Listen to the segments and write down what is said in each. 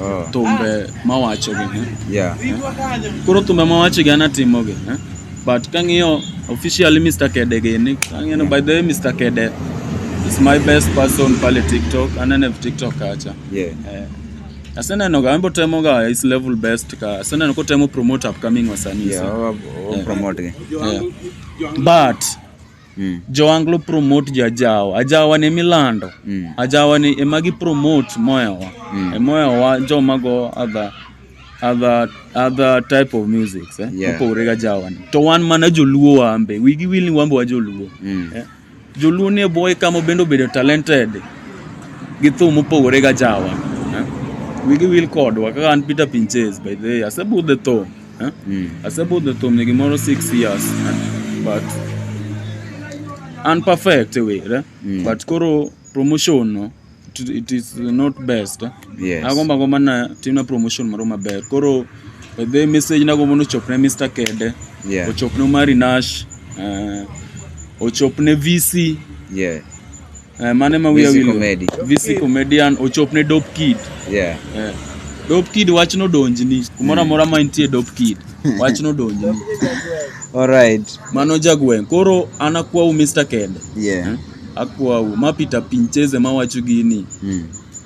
Oh. thumbe mawachogi eh? Yeah. koro thumbe mawachogi an atimogi eh? but kang'iyo officially Mr. Kede gini kang'iyo ni by the way Mr. Kede is my best person pale TikTok anene v TikTok kacha Yeah. eh, aseneno ga embo temo ga his level best ka aseneno kotemo promote upcoming wasanii Yeah, so, wa- wa- wa- promote gi. eh. but mm. joanglo promote jajawa ajawa ne milando mm. ajawa ne ema gi promote moyawa mm. emoyawa joma go adha other other type of music eh? yeah. mopogore ga jawani to wan mana joluo wambe wigi wil ni wambe wa joluo mm. eh? joluo ni boy kama bende obedo talented gi thum mopogore ga jawa eh? wigi wil kodwa kaka an Peter Pinches by the way asebudhe thum Huh? Mm. I say both the Tom nigga more six years, huh? but unperfect way, right? Mm. But koro promotion no, it, it is not best. Huh? Yes. Agomba gomba na tina promotion maro maber. Koro the message na gomba no chopne Mr. Kede. Yeah. Ochopne Mari Nash. Uh, ochopne VC. Yeah. Eh, mane ma wiya wilo. VC comedian ochopne dope kid. Yeah. Eh. Dope kid wach no donjni. Kumoro amora ma intie dope kid. Wach no donjni. All right. Mano jagweng. Koro anakuwa u Mr. Kende. Yeah. Eh? Akuwa u mapita pincheze mawacho gini. Mm.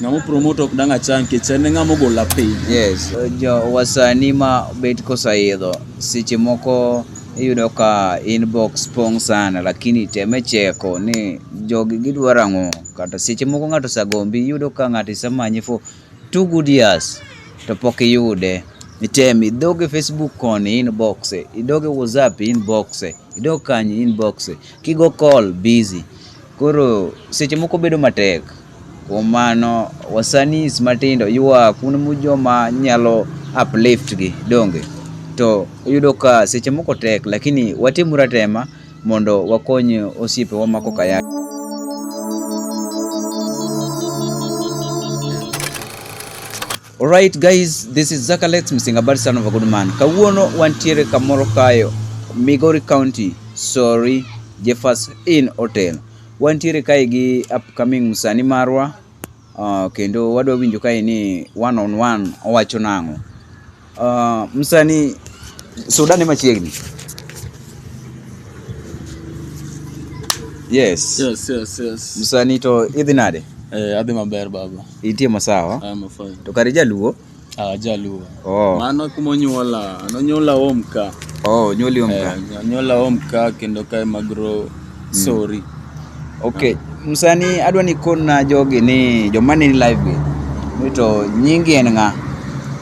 Ng'amo promote ok dang' achang nikech en e ng'amo gola piny. Yes, jo wasani ma bet kosaidho seche moko iyudo ka inbox pong' sana lakini teme cheko ni jogi gidwaro ang'o kata seche moko ng'ato osagombi iyudo ka ng'ato isemanyi for two good years to pok iyude. Item idog e Facebook koni inbox, idog e WhatsApp inbox, idog kanye inbox, kigo call busy. Koro seche moko bedo matek. Kuom mano, wasanis matindo yuaa kuom joma nyalo uplift gi, donge? To iyudo ka seche moko tek, lakini watimuru atema mondo wakony osiepewa ma koka ya. Alright guys, this is Zakalex Msingabari son of a good man. Kawuono wantiere kamoro kayo Migori County, sorry, Jeffers Inn Hotel. Wantiere kae gi upcoming msani marwa uh, kendo wadwa winjo kae ni one on one owacho nang'o. Uh, msani soda ne machiegni. Yes. Yes, yes, yes. Msani to idhi nade? Eh, adhi maber baba. Itie masawa. I'm fine. To kare jaluo. Ah, jaluo. Oh. Mano kuma onyuola, nonyuola home ka. Oh, onyuoli home ka. Eh, onyuola home ka kendo kae magro mm. sorry. Okay, msani adwa ni kona jogi ni joma ni live gi. Mito nyingi en nga.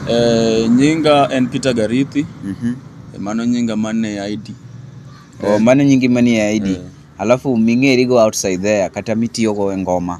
Eh, nyinga en Peter Garithi. Mhm. Mm eh, mano nyinga mane ID. Oh, eh. mano nyingi mane ID. Eh. Alafu ming'eri go outside there kata mitiyo go e ngoma.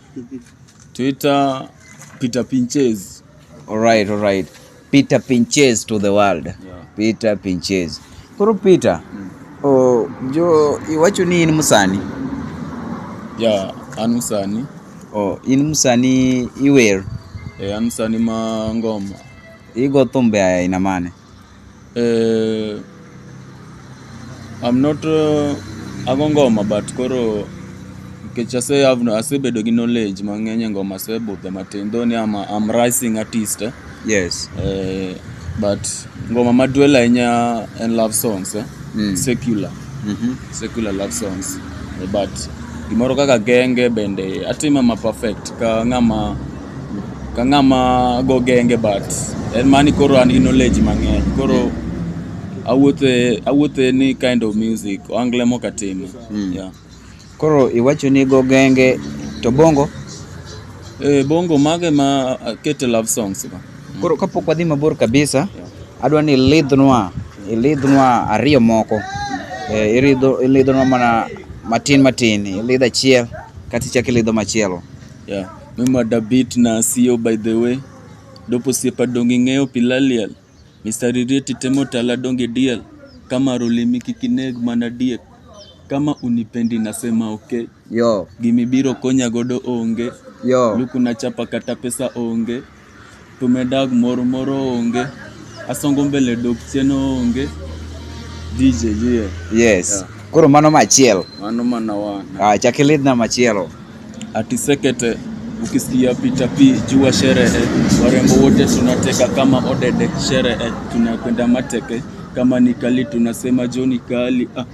Twitter Peter Pinches. All right, all right. Peter Pinches to the world. Yeah. Peter Pinches. Koro Peter. Mm. Oh, jo iwacho ni in musani. Yeah, an musani. Oh, in musani iwer. Eh, an musani ma ngoma. Igo thumbe aina mane? Eh, I'm not uh, ago ngoma but koro nikech ase have no- asebedo gi knowledge mang'eny e ngoma asebudhe matin though ni I'm, a- I'm rising artist eh? Yes. Eh, but ngoma maduel ahinya en love songs eh? Mm. secular Mhm. secular love songs Eh, but gimoro kaka genge bende atime ma perfect ka ng'ama ka ng'ama go genge but en mani koro an gi knowledge mang'eny koro awuothe awuothe ni kind of music angle moka timo mm. yeah. koro iwacho ni go genge to bongo eh, bongo mage ma kete love songs ba mm. koro kapok wadhi mabor kabisa yeah. adwa ni ilidhnwa ilidhnwa ariyo moko eh, ilidhnwa mana matin matin ilidh achiel kati chak ilidho machielo Yeah. Memada beat na sio by the way. Dopo siepa dongi ng'eyo pilaliel. Mr. Ririeti temo tala dongi diel. Kama rolimi kikineg mana diek. Kama unipendi nasema okay. Yo, Gimibiro konya godo onge. yo. Luku na chapa kata pesa onge. to medag moro moro onge asongo mbele dok chien onge DJ yeah. yes yeah. koro mano machiel mano mana wana ah chak ilidhna machielo ati sekete ukisikia pita pi jua sherehe warembo wote tunateka kama odede sherehe tunakwenda mateke kama ni kali tunasema joni kali ah.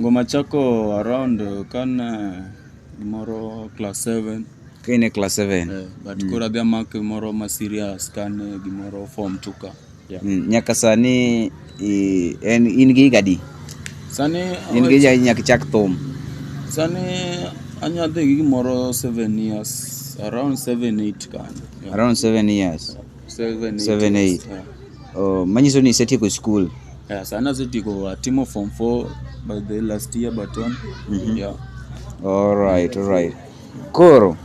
Ngoma chako around uh, kan uh, gimoro class 7 Ka in e class 7. eh, but koro adhi amak gimoro ma serious kan eh, gimoro form 2 ka yeah. Mm, nyaka sani i- en in gi higa adi? sani In gi higa adi nyaka ichak thum. sani anya dhi gi gimoro 7 years around 7 8 kan yeah. Around 7 years. 7 7 8 oh manyiso ni isetieko school yeah sana setiko atimo form 4 by the last year but on mm -hmm. yeah all right all right koro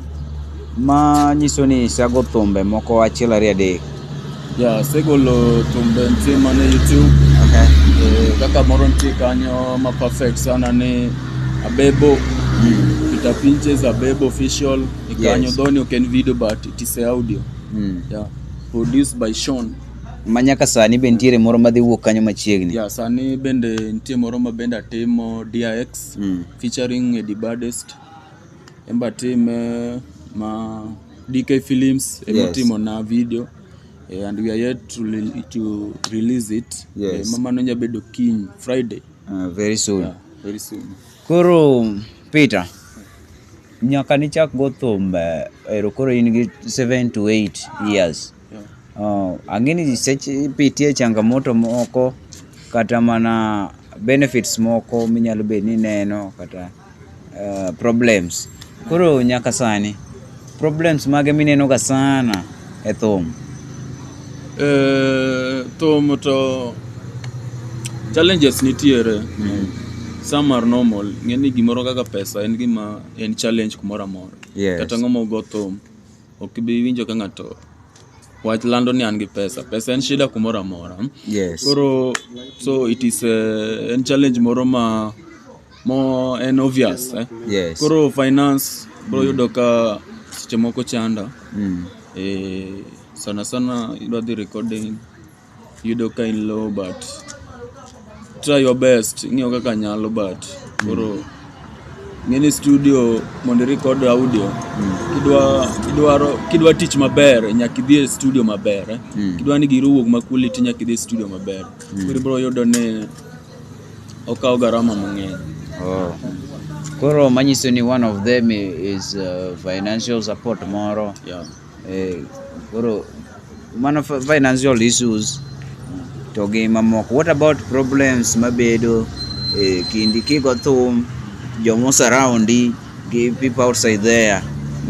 ma nyiso ni isago thumbe moko achiel ariyo adek yeah asegolo thumbe nitie mana youtube okay. eh, kaka moro nitie kanyo ma perfect sana ni abebo mm. peter pinches abebo official ikanyo yes. dhoni ok en video but it is audio Mm. yeah. produced by Sean ma nyaka sani be nitiere moro madhi wuok kanyo machiegni yeah, sani bende nitie moro ma bende atimo DRX Mm. featuring Eddie Baddest embe atime ma DK Films Yes. emitimo na video eh, and we are yet to, rel- to release it Yes. eh, mamano nya bedo kiny Friday Ah, very soon yeah, very soon koro peter Nyaka nichak go thum eh, ero koro in gi 7 to 8 years. Uh, ang'eni seche ipitie changamoto moko kata mana benefits moko minyalo bed ni neno kata uh, problems. Koro nyaka sani problems mage minenoga sana e thum? Eh, thum to challenges nitiere some are normal ng'e ni gimoro kaka pesa en gima en challenge kumoro amora Yes. kata ng'ama ogo thum ok ibi winjo ka ng'ato wach lando ni an gi pesa pesa en shida kumoro amora Yes. koro so it is eh, en challenge moro ma mo en obvious eh? Yes. koro finance bro yudo ka seche moko chanda Mm. eh, Sana sana idwa dhi recording yudo ka in low but try your best ing'eyo kaka nyalo but koro ng'eni studio mondo record audio kidwa kidwaro kidwa tich maber nyaka idhi e studio maber eh? kidwa ni giri owuog ma quality nyaka idhi e studio maber koro ibro yudo ni okawo garama mang'eny Oh. Koro manyiso ni one of them is uh, financial support moro yeah. Eh, koro mano fi- financial issues to gi mamoko what about problems mabedo eh, kindi kigo thum jomo surroundi gi people outside there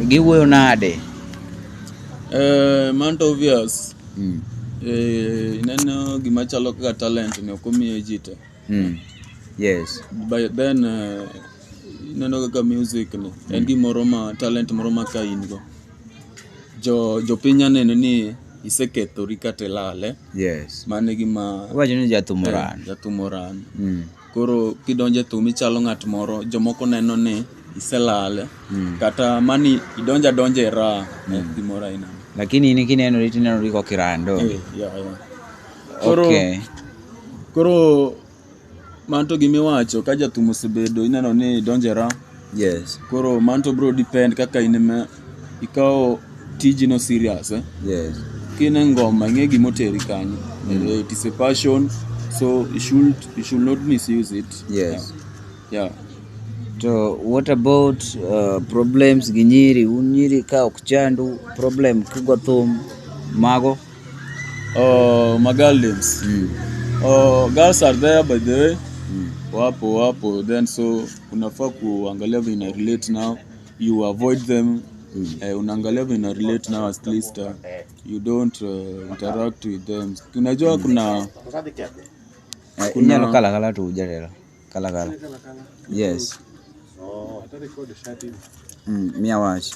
giwuoyo nade Eh, man to obvious mm. eh, ineno gima chalo kaka talent ni ok omiye ji te mm. yes but then eh, Ineno kaka music ni en gimoro ma talent moro ma ka in go jo jopiny nya neno ni isekethori kata ilale Yes. mano e gima Iwacho ni jathum oran. jathum oran Mm. koro kidonjo e thum ichalo ng'at moro jomoko neno ni iselale Mm. kata mani idonjo adonja e raha eh, gimoro aina Lakini in kinenori tinenori kokirando. Eh, yeah, yeah. koro Okay. koro Manto gima iwacho ka jathum osebedo ineno ni donje ra. Yes. Koro manto bro depend kaka in ema ikawo tiji no serious eh? Yes. Kine ngoma ing'e gima oteri kanyo. Mm. Eh, it is a passion so you should you should not misuse it. Yes. Yeah. yeah. To what about uh, problems gi nyiri? Un nyiri ka ok chandu problem kigo thum mago Oh, magaldens. Mm. Oh, girls are there by the way. Mm. Wapo wapo then so unafaa kuangalia vile ina relate now. You avoid them. Mm. Eh, unaangalia vile ina relate now at least uh, you don't uh, interact with them. Unajua kuna Eh, inyalo kala kala to ujarera. Kala kala. Yes. Oh, ata record shati. Mm, mia wach.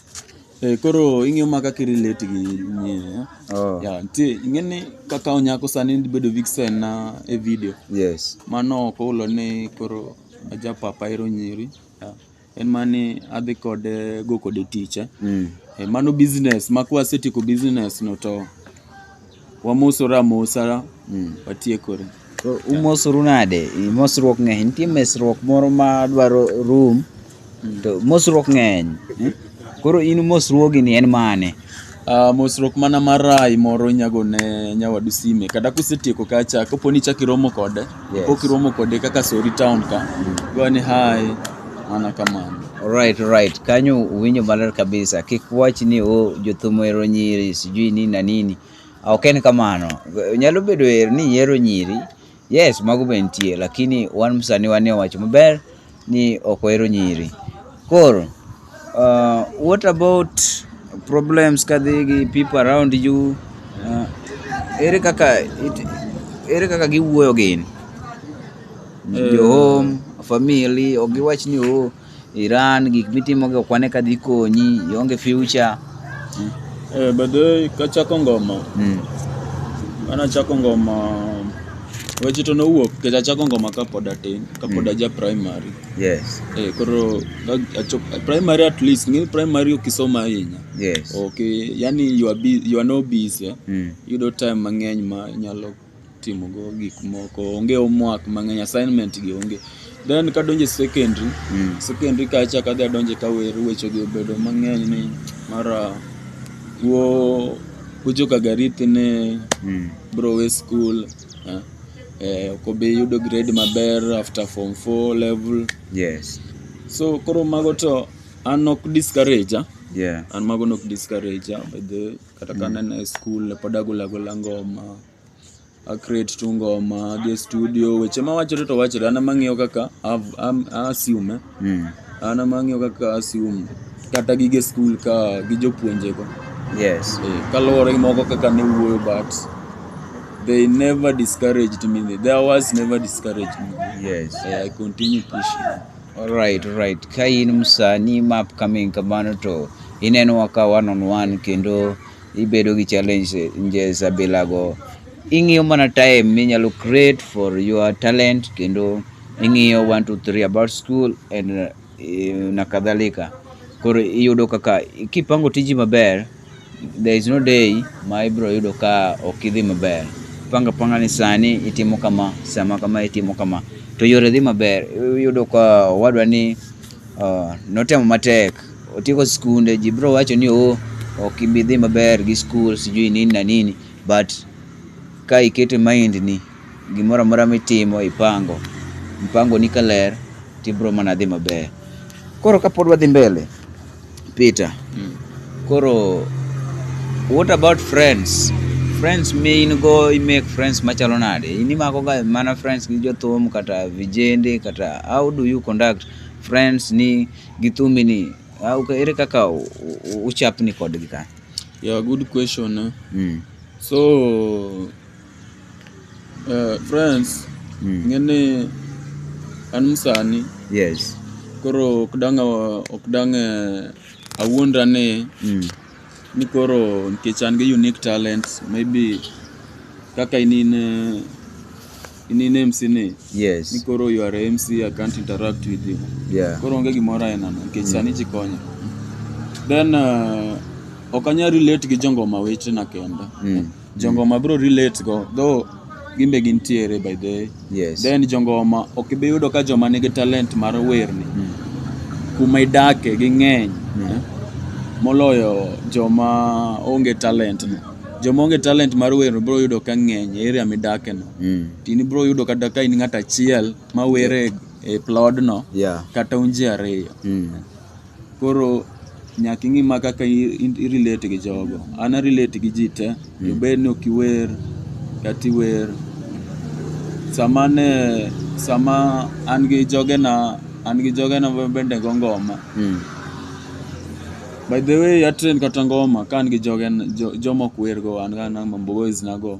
Eh, koro ing'eyo ma kaka irelate gi nyie Oh. ya nitie ing'eni kaka onyako sani bedo vixen na e video Yes. mano ok ohulo ni koro ajapapa ero nyiri ya. en mani adhi kode go kode tich eh? mm. e, mano business ma kwasetieko business no to wamosora amosa mm. watiekore so, umosoru nade mosruok ng'eny nitie mesruok moro ma dwaro room mm. to mosruok ng'eny eh? koro in mosruogi ni en mane Uh, mosruok mana marai moro inyago ne nyawadu sime kata kusetieko kacha kapo ni chak iromo kode yes. pok iromo kode kaka sori town ka mm. gone hai mana kamano right right kanyo uwinjo maler kabisa kik wach ni o oh, jothum ero nyiri sijui nini na nini ok en kamano nyalo bedo er ni ihero nyiri Yes, mago be nitie lakini wan msani wanie wacho maber ni ok ohero nyiri. Koro uh, what about problems kadhi gi people around you uh, ere kaka it, ere kaka giwuoyo gin mm. jo home family ok giwach ni oh Iran gik mitimogi ok wane ka dhi konyi, ionge future. Eh, by the way, kachako ngoma, Mm. an achako ngoma weche to nowuok kech achako ngoma kapod atin, kapod Mm. aja primary. Yes. Eh, koro ka- achop, primary at least, ng'e primary okisoma ahinya. Yes. Okay, yani you are, bu- you are no busy. Mm. Yudo time mang'eny ma nyalo timo go gik moko onge homework mang'eny assignment gi onge then kadonje secondary mm. secondary kacha kadhi adonje kawer weche gi obedo mang'eny ni mara wo kucho kagariti ne mm. bro we school eh, eh, okobi yudo grade maber after form 4 level yes so koro mago to an ok discourage ah. yeah. an mago nok discourage ah, by the kata ka nene e skul ne pod agolagola ngoma acreate tu ngoma adhi e studio weche mawachore to wachore an ema ang'iyo kaka av- am- assume Mm. an ema ang'iyo kaka assume kata gige skul ka gi jopuonjego Yes. Eh, kaluwore gi moko kaka ne wuoyo but they never discouraged me their words never discouraged me Yes. Eh, i continue pushing Alright, alright. Ka in msani ma upcoming kamano to inenowa ka one on one kendo ibedo gi challenges abilago. Ing'iyo mana time minyalo create for your talent kendo ing'iyo 1 2 3 about school and uh, na kadhalika. Koro iyudo kaka kipango tiji maber There is no day ma ibiro yudo ka ok idhi maber. Panga panga ni sani itimo kama, sama kama itimo kama. To yore dhi maber. Iyudo ka owadwa ni uh, notemo matek. Otieko skunde, ji biro wacho ni oh, ok ibi dhi maber gi skul, sijui nini na nini. But ka iketo e mind ni Gimoro amora mitimo ipango, mpangoni ka ler to ibiro mana dhi maber. Koro kapod wadhi mbele, Peter, mm. koro what about friends? Friends mi in go i make friends machalo nade? In imako ga mana friends gi jothum kata vijende kata how do you conduct friends ni gi thumbi ni? Ah, ere kaka uchapni kodgi ka? Yeah, good question. Eh? Mm. So Eh, friends Mm. ng'eni an msani Yes. koro ok dang' awa- ok dang' eh, awuondra ni Mm. ni koro nikech an gi unique talents maybe kaka in in eh, in in MC ni ni Yes. koro you are a MC I can't interact with you Yeah. koro onge gimoro aena no nikech sani ji konyo then eh, ok anyal relate gi jongoma wetena kenda Mm. Jongoma bro relate go though gimbe gintiere by the way. Yes. Then jongoma ok ibi yudo ka joma nigi talent mar werni mm. kuma idake ging'eny mm. eh? moloyo joma onge talent no. Joma onge talent mar werno bro yudo ka ng'eny e area midake no. Mm. Tini bro yudo kata ka in ng'at achiel ma were yeah. e plodno yeah. kata unji ariyo. Mm. Koro nyaka ing'i ma kaka i- i- i-relate gi jogo. An a-relate gi ji te, to bed ni ok iwer kata iwer. Sama ne, sama an gi jogena, an gi jogena ma bende go ngoma. Mm. By the way, atrend kata ngoma ka an gi jogen, jo, joma ok wergo, an ga na Mambo Boys nago.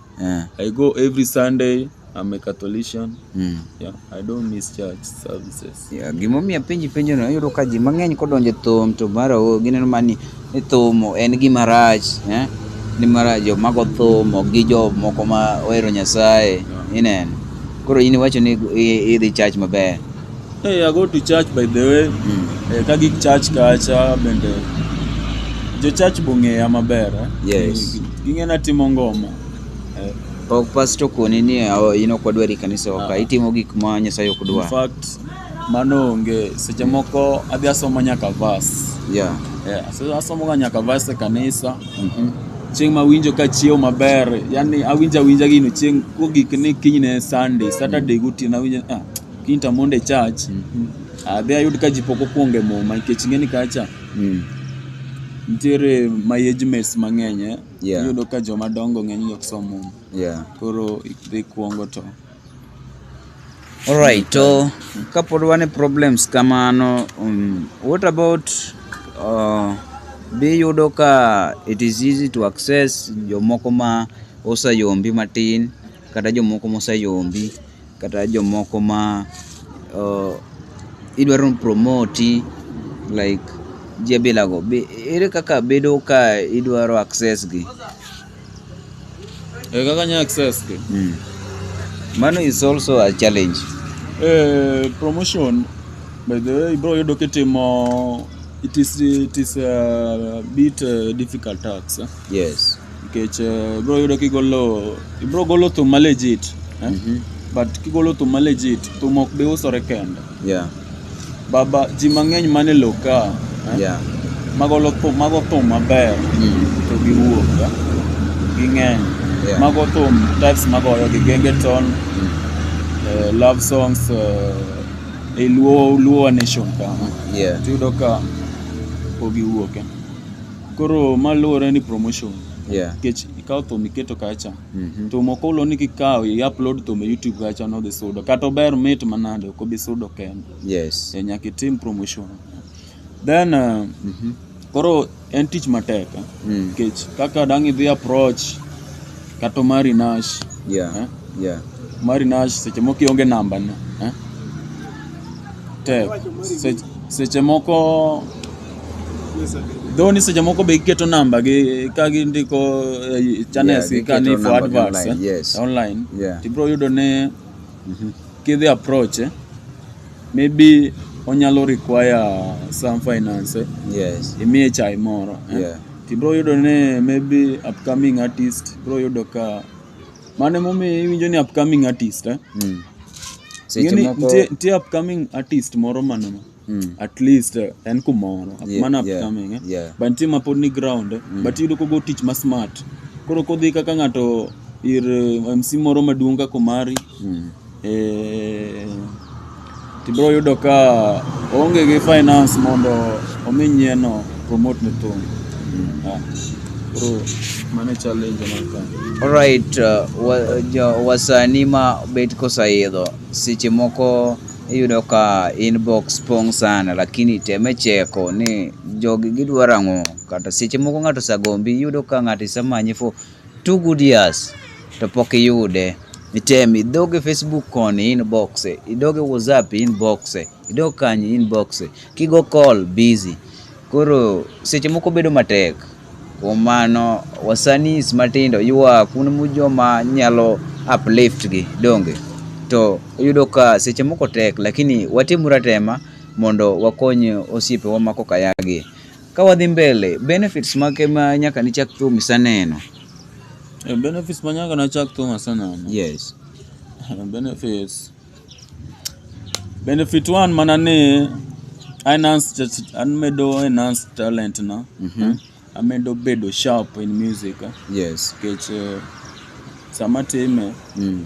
Eh. I go every Sunday. I'm a Catholican. Mm. Yeah, I don't miss church services. Yeah, gimomiyo apenji penjo no ayudo ka ji mang'eny kodonje thum to mara o gineno mani ni thum en gima rach eh? ni mara jo mago thum ok gi jo moko ma ohero Nyasaye Yeah. ineno koro in iwacho ni i- idhi church maber Hey, I go to church by the way. Mm. Eh, ka gik church kacha bende jo church bong'eya maber. Eh? Yes. Ging'ena timo ngoma. Eh. Pok pastor kuoni ni oh, in ok wadwar i kanisa waka. Ah. Itimo gik ma Nyasaye ok dwar. In fact, mano onge. Seche moko adhi asomo nyaka verse. Yeah. Yeah. So asomo ga nyaka verse e kanisa. Mhm. Mm chieng' ma winjo ka chiew maber, yani awinja awinja gino chieng' kogik ni kinyne Sunday, Saturday gotieno awinjo ah Kinta mondo e church, adhi ayud ka ji pok okuongo e muma nikech ing'e ni kacha Mm. nitiere my age mates mang'eny eh. Yeah. Iyudo ka joma dongo ng'eny ni ok som muma. Yeah. Koro idhi kuongo to Alright, to kapod wan e problems kamano, um, what about uh, be yudo ka it is easy to access jomoko ma oseyombi matin kata jomoko moseyombi kata jomoko ma uh, idwaro ni promoti like ji abilago Be- ere kaka bedo ka idwaro access gi Eh, kaka nya access gi mm. mano is also a challenge Eh, promotion by the way bro yudo kitimo it is it is a bit uh, difficult tax eh? yes nikech eh, ibro yudo kigolo ibro golo thum ma legit eh? Mhm. but kigolo thum ma legit thum ok bi usore kende Yeah. baba ji mang'eny mane lo ka eh? Yeah. magolo thum mago thum maber Mm. to giwuok eh? ging'eny Yeah. mago thum types magoyo gi genge ton Mm. eh, love songs eh, e luo luo nation ka Yeah. tiyudo ka pogiwuok eh? Koro ma luwore ni promotion. Yeah. Nikech ikawo thum iketo kacha. Mhm. Thum ok olo ni kikawo i upload thum e YouTube kacha no dhi sudo. Kata ober mit manade ok obi sudo kende. Yes. E, nyaka itim promotion. Then uh, Mhm. koro en tich matek. eh. Mm. Nikech kaka dang' idhi approach Kato mari nash. Yeah. Eh? Yeah. Mari nash seche moko ionge namba ne. Eh? Tek. Seche, seche moko Though ni seche moko be giketo namba gi ka gindiko eh, channels yeah, ka ni for adverts online, eh? yes. online. Yeah. Tibro yudo ne mm -hmm. kidhi approach eh? maybe onyalo require some finance eh? yes. imiye chai moro eh? yeah. Ibro yudo ni maybe upcoming artist, ibro yudo ka mano emomiyo iwinjo ni upcoming artist eh? Mm. Seche Ing'eni moko nitie nitie upcoming artist moro maneno Mm. at least eh, en kumoro Yeah, mana yeah, upcoming eh? yeah. but nitie mapod ni ground eh? but iyudo kogo tich ma smart koro kodhi kaka ng'ato ir eh, mc moro maduong' kaka omari Hmm. E, tibiro yudo ka onge gi finance mondo omi nyieno promote ne thum. Hmm. Ah. Mane challenge maka. Alright, uh, wasani ma bet kosaidho seche moko iyudo ka inbox pong' sana lakini teme cheko ni jogi gidwaro ang'o kata seche moko ng'ato osagombi iyudo ka ng'ato isemanyi for Two good years to pok iyude. Item idog e Facebook koni inbox, idog e WhatsApp inbox, idog kanyi inbox. Kigo call busy. Koro seche moko bedo matek. Kuom mano wasanis matindo ywa kuno mu joma nyalo uplift gi donge. To yudo ka seche moko tek lakini watimuru atema mondo wakony osiepewa ma kokayagi. Ka wadhi mbele, benefits mage ma nyaka nichak thum iseneno? Eh, benefits ma nyaka nachak thum aseneno. Yes. Eh, benefits. Benefit one mana ni enhanced, amedo enhanced talent na. Mm -hmm. Eh, amedo bedo sharp in music. Yes. Kech uh, sama time. Mm.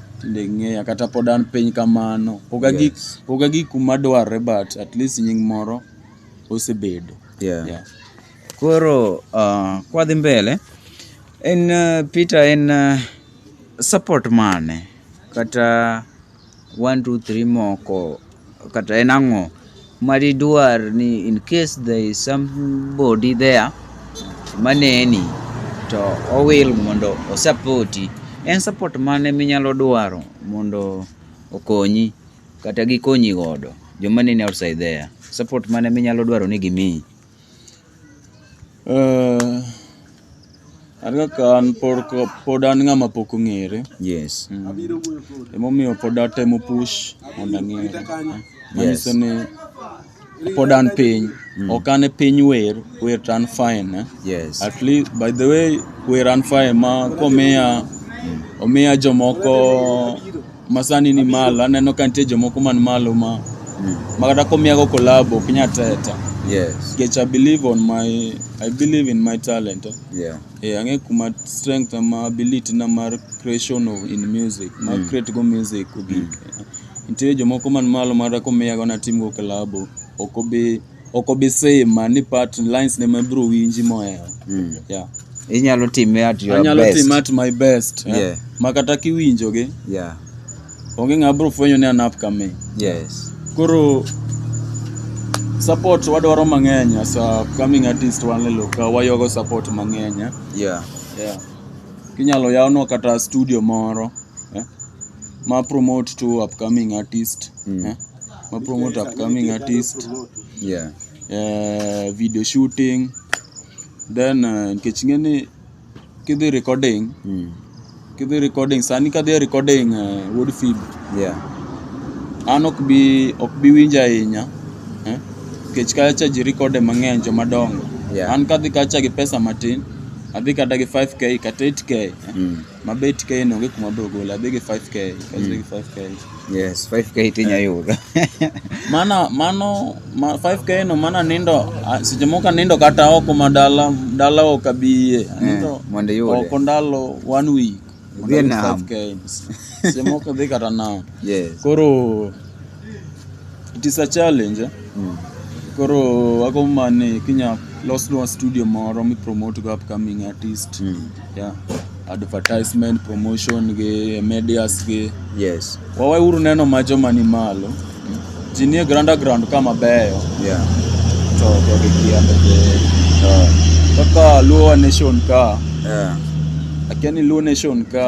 tinde ng'eya kata pod an piny kamano pok agi Yes. pok agi kuma dwarre but at least nying moro osebedo Yeah. Yeah. Koro uh, kwadhi mbele en uh, Peter en uh, support mane kata 1 2 3 moko Kata en ang'o madidwar ni in case there is somebody there maneni to owil mondo osapoti en support mane minyalo dwaro mondo okonyi kata gikonyi godo joma neni outside there support mane minyalo dwaro ni gimiyi Eh, an kaka an pod ko- pod an ng'ama pok ong'ere yes emomiyo pod atemo push mondo ang'ere manyiso ni pod an piny ok an e piny wer wer to an fine eh? yes at least by the way wer an fine ma komiya omiya jomoko Masani ni malo, aneno ka nitie jomoko man malo ma mm. makata komiyago kolabo ok nya teta. Yes. Nikech I believe on my I believe in my talent. Eh? Yeah. Eh, ang'e kuma strength ma ability na mar creation of in music, ma mm. create go music ogik. Mm. Nitie jomoko man malo makata komiyago natim go kolabo ok obi ok obi same man ni part lines ne ma bro winji mohero Mm. yeah Inyalo time at your anyalo best. timo at my best yeah. Yeah. ma kata kiwinjogi Yeah. onge ng'a bro fwenyo ni an upcoming Yes. koro support wadwaro mang'eny as a upcoming artist wan leloka wayogo support mang'eny eh. Yeah. yeah. Inyalo yawnwa kata studio moro eh, ma promote to upcoming artist Mm. eh, ma promote upcoming artist Yeah. eh, video shooting then eh, nikech ing'e ni kidhi recording Mm. kidhi recording sani kadhi recording eh, wuod fib Yeah. an ok bi ok bi winjo ahinya eh, nikech kacha ji recorde mang'eny jomadongo Yeah. an kadhi kacha gi pesa matin Adhi kata gi 5k kata 8k. eh. Mm. Ma be 8k ni onge kuma bro gole. Adhi gi 5k. Adhi gi 5k. Yes, 5k tinya yudo. Mana mano ma 5k no mana nindo ah, seche moko nindo kata oko ma dala dala ok abiye. Anindo mondo iyude. oko ndalo one week. Vietnam. Semoko dhi kata now. Yes. Koro it is a challenge. Eh? Mm. Koro ako mane kinya losnwa studio moro mi promote go upcoming artist. Mm. Yeah. Advertisement, promotion gi medias gi. Yes. Wawe uru neno ma joma ni malo. Ji nie granda ground ka mabeyo Yeah. to jogi kia to jogi. Oh. Kaka Luo nation ka, Yeah. akia ni Luo nation ka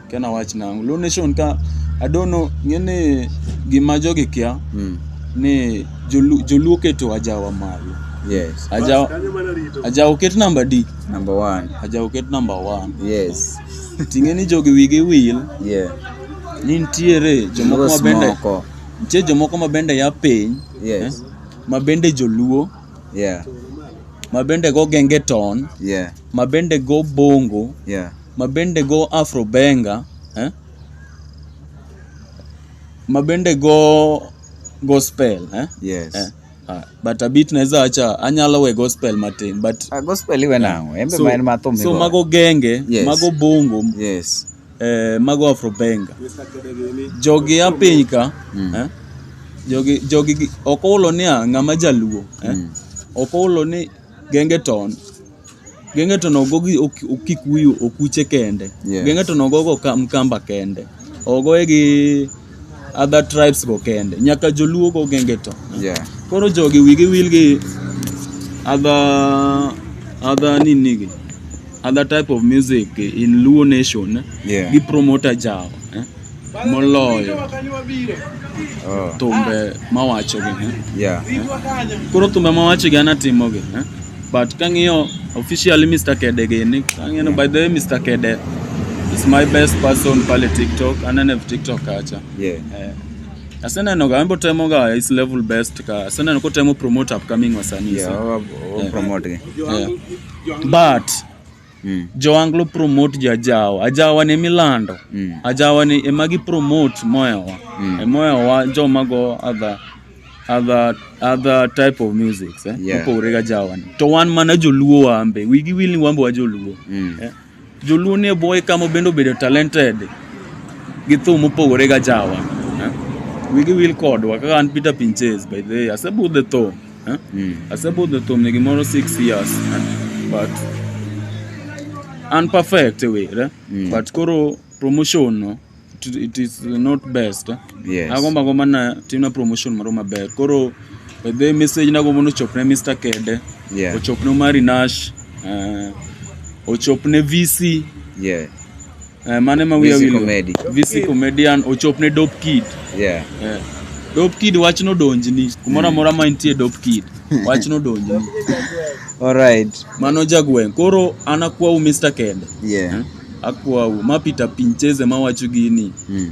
kia na wach nangu. Luo nation ka I don't know ng'eni gima jogi kia Mm. ni jolu- joluo keto ajawa malo. Yes. Ajawa ajawa oket namba D, Number one. ajawa oket namba 1. Yes. Ting'eni jogi wigi wil Yeah. ni nitiere jomoko Luos mabende moko. nitie jomoko mabende ya piny Yes. eh, mabende joluo Yeah. mabende go gengeton Yeah. mabende go bongo Yeah. mabende go afrobenga eh? mabende go gospel eh? Yes. Eh. ah, but abit naweza acha anyalo we gospel matin but Ah, gospel iwe nango. Embe so, ma en matho so migoyo. mago genge Yes. mago bongo Yes. Eh, mago Afrobenga. Jogi a piny ka. Mm. Eh? Jogi jogi ok olo ni ng'ama jaluo. Eh? Mm. Ok olo ni genge ton. Genge ton ogogi okikuyu okuche kende. Yes. Genge ton ogogo mkamba kende. Ogoye gi other tribes go kende nyaka joluo go genge to yeah. koro jogi wigi wil gi other other nini gi other type of music in luo nation yeah. gi promoter jao eh? moloyo oh. thumbe mawacho gi eh? yeah. eh? koro thumbe mawacho gi anatimo gi eh? But kang'iyo officially Mr. Kede gini, kang'iyo by the way Mr. Kede is my best person pale TikTok, anene TikTok kacha. Yeah. Eh. Aseneno ga ambo temo ga is level best ka. Aseneno ko temo promote upcoming wasanii. Yeah, sana. wa- wa- wa- Yeah. promote gi. Yeah. But mm. jowanglo promote jajawa ajawa ne milando mm. ajawa ne ema gi promote moyawa mm. emoyawa joma go adha other other type of music eh? yeah. mopogore ga jawani to wan mana joluo wambe wigi wil ni wambe wa joluo mm. eh? joluo ni boy kama bende obedo talented gi thum mopogore ga jawa eh? wigi wil kodwa kaka an Peter Pinches by the way asebudhe thum Eh? Mm. Asebudho thum ni gimoro 6 years. Eh? But unperfect e way, eh? mm. but koro promotion no it, it is not best. Eh? Yes. Agomba gomba na timna promotion moro maber. Koro the message na gombo no chopne Mr. Kede. Yeah. Ochopne Mari Nash. Uh, ochopne VC. Yeah. Eh, mane ma wiya Visi wil go? comedy. Visi comedian ochop ne dope kid. Yeah. Eh. Dope kid wach nodonjni. Kumoro amora ma intie dope kid. Wach nodonjni. All right. Mano jagweng'. Koro an akwau Mr. Kende. Yeah. Akwau ma Peter Pincheze ma wacho gini. Mm.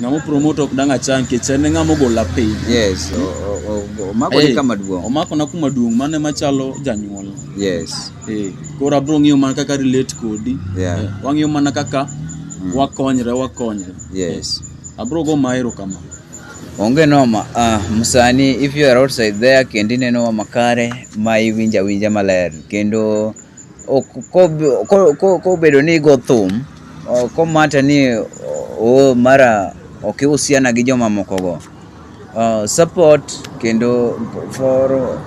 Ng'amo promote ok dang' achang nikech en e ng'amo gola piny. Yes, o- o- o- omako ni Eh, kama duong'. Omako na kuma duong' mano ema chalo janyuol. Yes. Eh, koro abro ng'iyo mana kaka relate kodi. Yeah. Eh, wang'iyo mana kaka wakonyre wakonyre. Yes. Abro go maero kama. Onge noma. Ah, msani if you are outside there kendo ineno wa makare ma iwinja winja maler kendo ok- ko- ko- ko- kobedo ni igo thum Komata ni o mara ok iusiana gi jomamokogo. Uh, support kendo for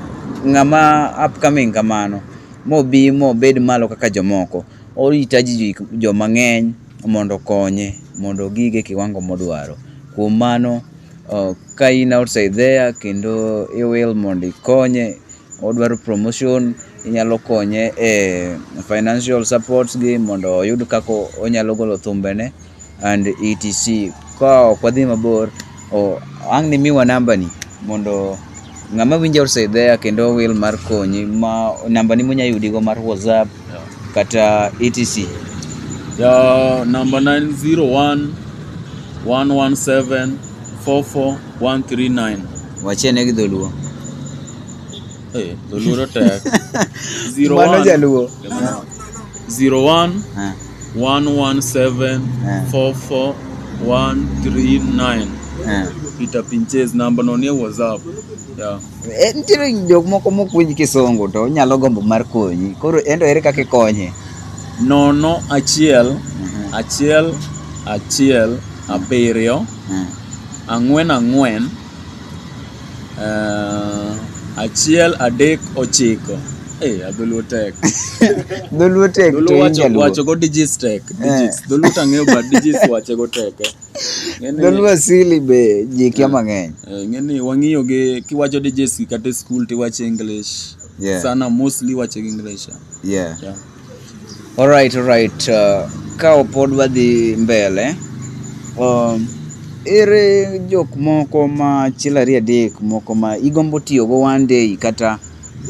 ng'ama upcoming kamano mobi mobed malo kaka jomoko oritaji joma ng'eny mondo konye mondo gige kiwango modwaro kuom mano uh, ka in outside there kendo iwil mondo ikonye odwaro promotion inyalo konye e financial supports gi mondo oyud kaka onyalo golo thumbene and etc. Ka ok wadhi mabor, o- ang' ni miwa nambani mondo ng'ama winjo outside there kendo owil mar konyi ma nambani munya yudigo mar WhatsApp kata etc. Ya namba na en 01 117 44139. Wachie ne gi dholuo. Eh, dholuo to tek. Zero Mano one- jaluo. zero one Eh, one one seven Eh. four four one three nine. eh. Peter Pinches namba no nie WhatsApp. Yeah. Eh, nitiere jok moko mopuonj kisungu to onyalo gombo mar konyi koro endo ere kaka ikonye Nono achiel achiel achiel abiriyo mm. ang'wen ang'wen uh, achiel adek ochiko Hey, eh, dholuo tek dholuo tek to wacho wacho go digits tek eh. digits dholuo tang'eyo but digits wacho go tek eh. dholuo asili be ji kia mang'eny ng'eni wang'iyo gi kiwacho digits kata school tiwacho english yeah. sana mostly wacho gi english yeah. yeah. Alright, alright. Uh, ka pod wadhi mbele, um, ere jok moko ma achiel ariyo adek moko ma igombo tiyogo one day kata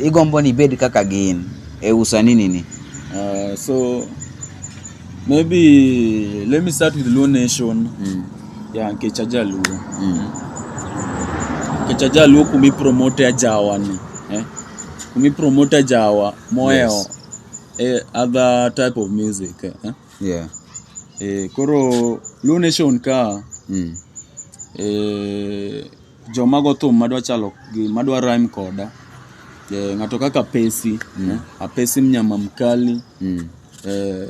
igombo ni ibed kaka gin e usani nini? Uh, so maybe let me start with Luo Nation. Mm. Yeah, nikech ajaluo. Mm. Nikech ajaluo kumi promote ajawa ni. Eh? Kumi promote ajawa moel yes. eh, other type of music eh? yeah. eh, koro Luo Nation ka mm. eh, joma go thum madwa chalo gi madwa rhyme koda eh, ng'ato kaka Pesi mm. eh, Apesi mnyama mkali mm. eh,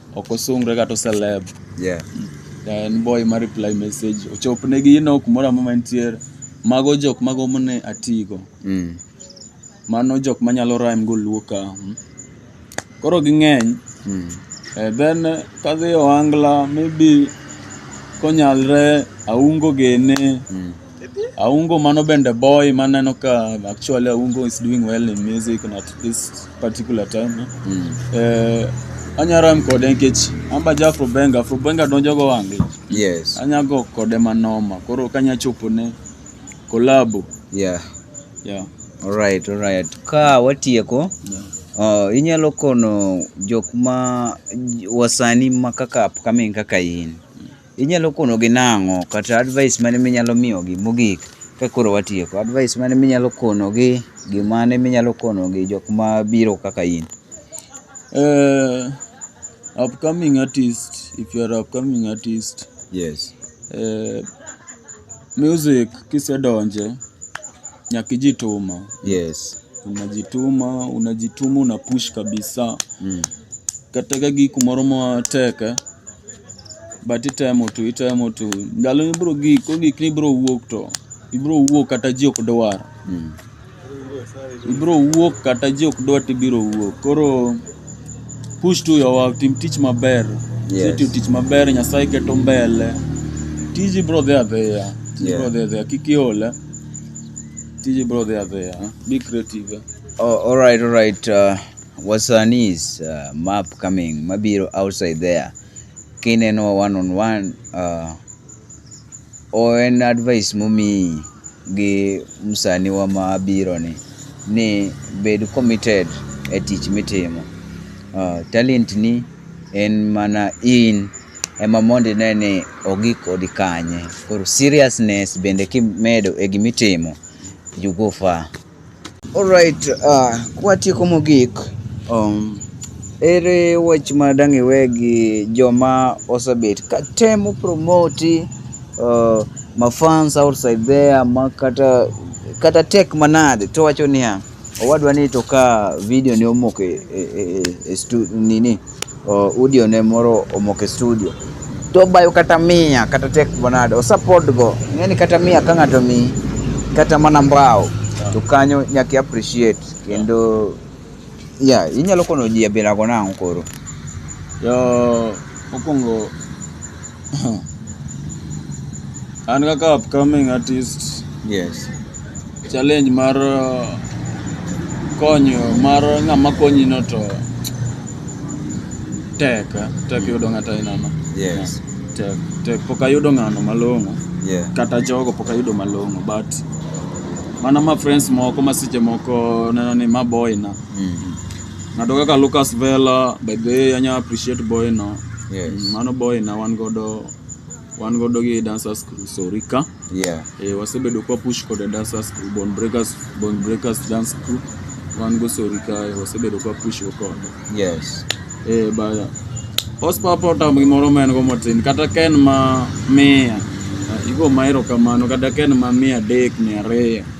ok osungre kata oseleb yeah. en boy ma reply message ochopnegi ino kumoro amora mantiere mago jok magombo ne atigo mm. mano jok manyalo rhyme go luo ka hmm. koro ging'eny mm. eh, then kadhi ohangla maybe konyalre aungo gene mm. Aungo mano bende boy maneno ka actually Aungo is doing well in music and at this particular time. Eh? Mm. Eh, anya ram kode nikech amba ja Afro Benga, Afro Benga donjo go wange. Yes. Anya go kode manoma. Koro kanya chopo ne collabo. Yeah. Yeah. All right, all right. Ka watieko. Yeah. Uh, inyalo kono jok ma wasani ma kaka upcoming kaka in. Inyalo konogi nang'o kata advice mane minyalo miyogi mogik ka koro watieko? Advice mane minyalo konogi, gimane minyalo konogi jok ma biro kaka in? Eh, upcoming artist, if you are upcoming artist, Yes. eh, music kisedonje nyaka ijituma. Yes. Unajituma, unajituma, una push kabisa. Mm. Kata ka gi kumoro matek eh, but itemo tu itemo tu ndalo ibro gik ogik ni ibro wuok to ibro wuok kata ji ok dwar ibro wuok kata ji ok dwar to ibiro wuok koro push to your work tim tich maber Yes. yes. tim tich maber nyasaye keto mbele tiji bro dhi adhiya tiji Yeah. bro dhi adhiya kik iole tiji bro dhi adhiya be creative Oh, all right, all right. Uh, Wasanis uh, map coming mabiro outside there kineno one on one uh, o en advice momiyi gi msaniwa ma biro ni ni bed committed e tich mitimo uh, talent ni en mana in ema mondo ine ni ogik kodi kanye koro seriousness bende kimedo e gimitimo you go far Alright, uh, kwatieko mogik, um, ere wach ma dang' iwe gi joma osebet ka temo promoti uh, mafans outside there ma kata kata tek manade to wacho niya owadwa ni to ka video ni omoko e, e, e, e stu, nini uh, audio ne moro omoko e studio to bayo kata mia kata tek manade osapod go ng'eni kata mia ka ng'ato mi kata mana mbao to kanyo nyaka appreciate kendo ya yeah, inyalo kono ji abila go nang'o koro yo mokwongo An kaka upcoming artist, Yes. challenge mar uh, konyo mar ng'ama konyi no to tek eh, tek yudo ng'ato ainano Yes. tek tek pok ayudo ng'ano malong'o Yeah. kata jogo pok ayudo malong'o but mana ma friends moko ma seche moko neno ni ma boy na Mm. Ng'ato kaka Lucas Vela by the way anya appreciate boy no. Yes. Mm, Mano boy na wan godo wan godo gi dancers crew Sorika. Yeah. Eh, wasebedo kwa push kod dancers crew Bone Breakers Bone Breakers dance crew wan go Sorika eh, wasebedo kwa push go kod. Yes. Eh, baya. Ospa pota gimoro ma en go motin kata ken ma miya. Igo maero kamano kata ken ma miya dek miya ariyo.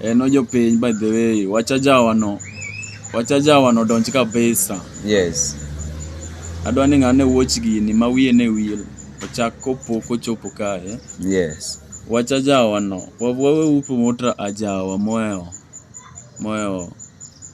En ojopiny by the way. Wacha jawa no. Wacha jawa no donj kabisa. Yes. Adwa ni ng'ane watch gini ma wiye ne wil. Ochak kopok ochopo kae. Yes. Wacha jawa no. Wawe upo motra ajawa moyo. Moyo.